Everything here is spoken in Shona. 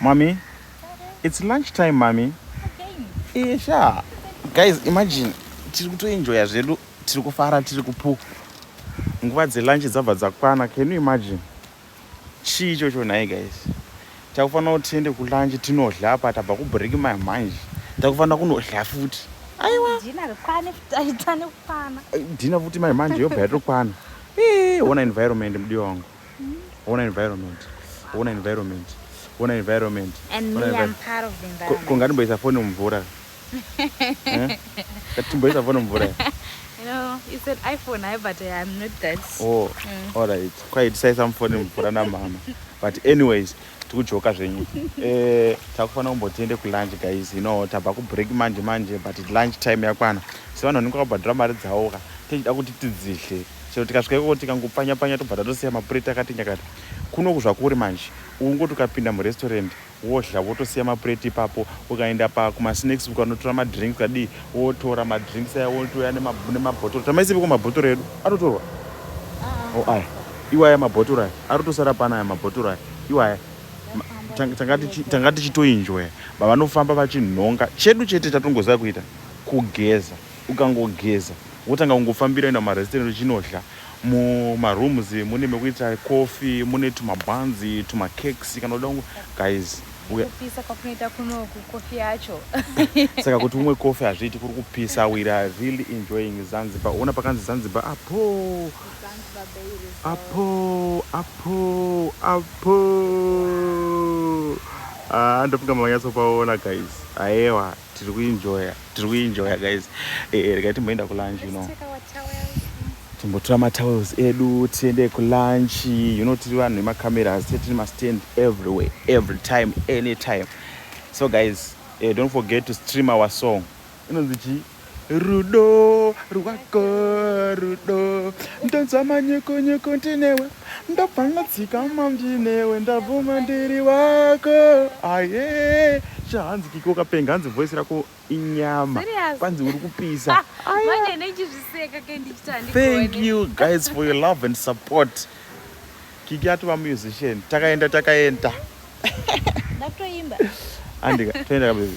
Mommy, it's lunch time, mommy. Okay. Isha. Guys, imagine tiri kutoenjoya zvedu, tiri kufara, tiri kupuka. Nguva dzelunch dzabva dzakwana. Can you imagine? Chii ichocho nhai guys? Takufanira kuti tiende kulunch tinodya apa tabva kubreak my mind. Takufanira kunodya futi. Aiwa. Dina rikwane taita nekwana. Dina futi my mind yobva yatokwana. Eh, ona environment mdiwa wangu. Ona environment. Ona environment. Ona environment. And me I'm part of the environment. Konga ndimboisa phone mumvura. Eh? Ndimboisa phone mumvura. No, it's an iPhone, I but eh, I'm not that. Oh, mm. all right. Quite say some phone mumvura na mama. But anyways, tikujoka zvenyu eh, takufanira kumbotiende kulunch guys you know tabva kubreak manje manje but lunch time yakwana sevanhu vanenge vakabhadhura mari dzawoka tichida kuti tidzidle chero tikasvika ikoko tikangopfanya pfanya tobva tatosiya mapureti akati nyakata kunoku zvakuri manje ungoti ukapinda murestaurant wodya wotosiya mapureti ipapo ukaenda pa kumasnacks ukanotora madrinks kadii wotora madrinks aya wotouya nemabhotoro tamaisipiko mabhotoro edu atotorwa ah. oh, aya iwaya mabhotoro aya arotosara pana aya mabhotoro aya iwaya tanga tichitoinjoya bavanofamba vachinhonga chedu chete tatongoziva kuita kugeza ukangogeza wotanga kungofambira kuenda mumarestaurant uchinodya mumarooms mune mekuita coffee mune tumabuns tumacakes kana uda guys kupisa kwakunoita kunoku kofi yacho saka kuti umwe kofi hazviiti kuri kupisa we are really enjoying zanzibar ona pakanzi zanzibar apo apo apo apo ah, ndofunga mamanyatsopaona guys aewa tiri kuenjoya tiri kuenjoya guys eh, eh regai timboenda kulunch you know timbotora matowels edu tiende kulunch you know tiri vanhu vemacameras tiri mastand everywhere every time anytime so guys eh, don't forget to stream our song inonzi chii rudo rwako rudo ndonzwa manyekonyeko ndinewe Ndabva ndadzikama ndinewe ndabvuma ndiri wako aye chahanzi kiko kapenga hanzi voice rako inyama kwanzi uri kupisa thank you guys for your love and support kiki atova musician takaenda takaenda ndatoimba andika toenda kabebi